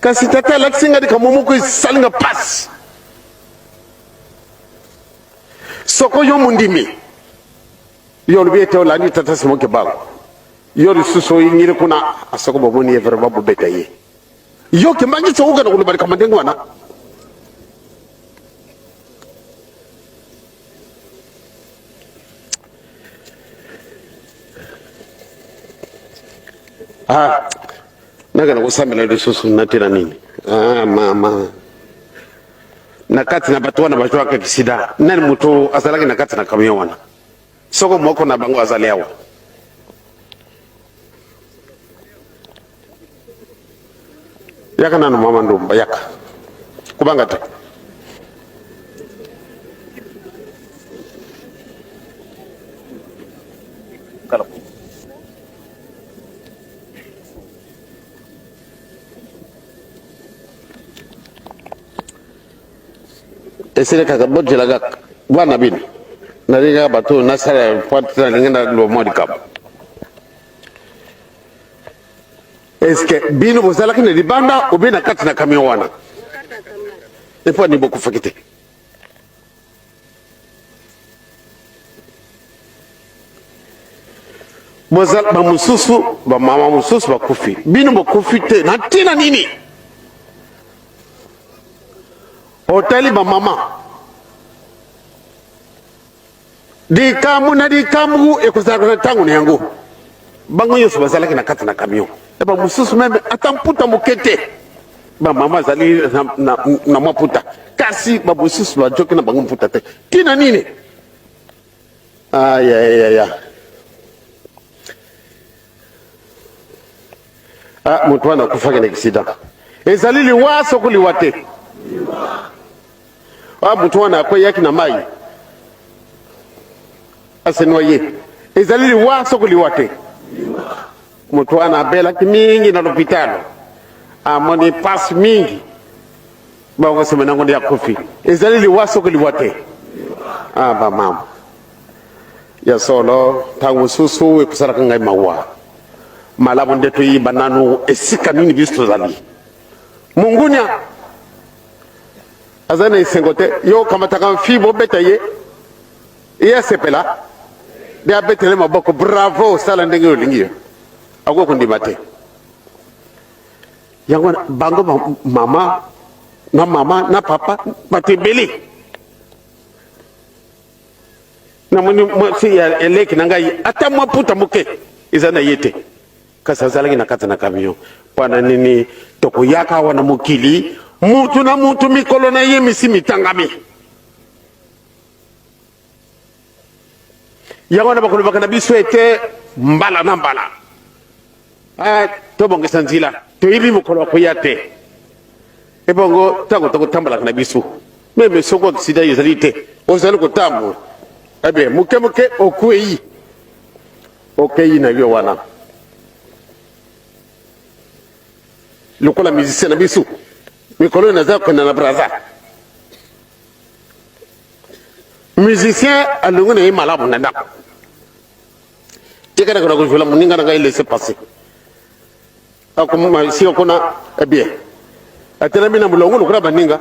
Kasi tata alakisi nga likambo moko esali nga mpasi. Soko yo mondimi, yo olobi ete olandi tata Simon Kimbangu, yo lisusu oyingili kuna, soko bomoni ye vraimen bobeta ye. Yo Kimbangu sokoka na koloba likambo ndenge wana Ah, naka nakosambela lisusu natela nini ah, mama na kati na bato wana bazwaka kisida nani moto azalaki na kati na kamion wana soko moko na bango azali awa yaka nanu mama ndumba yaka kubanga te esili kaka bojela kaka bana bino nalingi kaka bato nasala pointe nalingi nalua mwa likambo eske bino bozalaki na libanda obe na kati na camion wana epo ani bokufaki te boza bamosusu bamama mosusu bakufi bino bokufi te na ntina nini otali bamama likambo na likambo ekozalaka na ntango na yango bango nyonso bazalaki na kati na camion na bamosusu meme ata mputa moke te ba mama azali na, na, na mwa mputa kasi babosusu bajoki na bango mputa te ntina nini ayayaya ah, ah, moto wana akufaki na accident ezali liwa soko liwa te ah, moto wana akweyaki na mai asenoye ezali liwa soko liwa te Moto wana abelaki mingi na lopitalo, amoni pasi mingi, bango nsima nango nde akufi. Ezali liwa soko liwa te? Ah, bamama ya solo, ntango mosusu ekosalaka ngai mawa. Malamu nde toyiba nanu esika nini biso tozali. Mungunya aza na esengo te, yo okamataka mfi bobeta ye Ye asepela nde abetele maboko, bravo, sala ndenge olingi yo, akoki kondima te. Yango wana bango mama na mama na papa bato ebele namoni mwasi ya eleki na ngai ata mwa puta moke eza na ye te kasi azalaki na kati na camion mpo na nini tokoyaka awa na mokili mutu na mutu mikolo na ye misi mitangami yango wana bakolobaka na biso ete mbala na mbala eh, tobongisa nzila toyebi mokolo ya koya te ebongo ntango tokotambolaka na biso meme soko aksida ezali te ozali kotambola ebe eh moke moke okwei okei na yo wana lokola musicien na biso mikolo oyo naza kokenda na braza musicien alongi na ye malamu na ndako tikana kana kozwela moninga na ngai laisse passer akoma si okona ebien eh atelami na molongo lokola baninga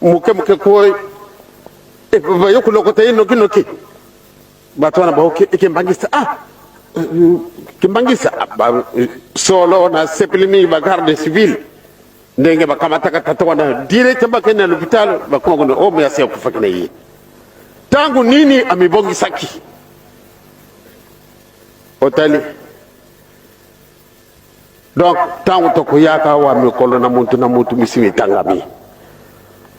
moke moke ko eh, bayo kolokota ye nokinoki bato wana baoki ekembangisa ah kimbangisa solo na sepeli mingi ba garde civile ndenge bakamataka tata wana direct bakende na lopitalo bakoma kuna oyo oh, moyasi akufaki na ye ntango nini amibongisaki otali donc ntango tokoyaka awa mikolo na motu na motu misi mitangami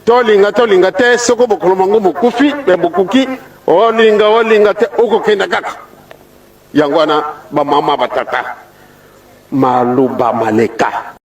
tolinga tolinga te soko bokolo mango mokufi me bokuki olinga olinga te okokenda kaka yango wana bamama batata maluba maleka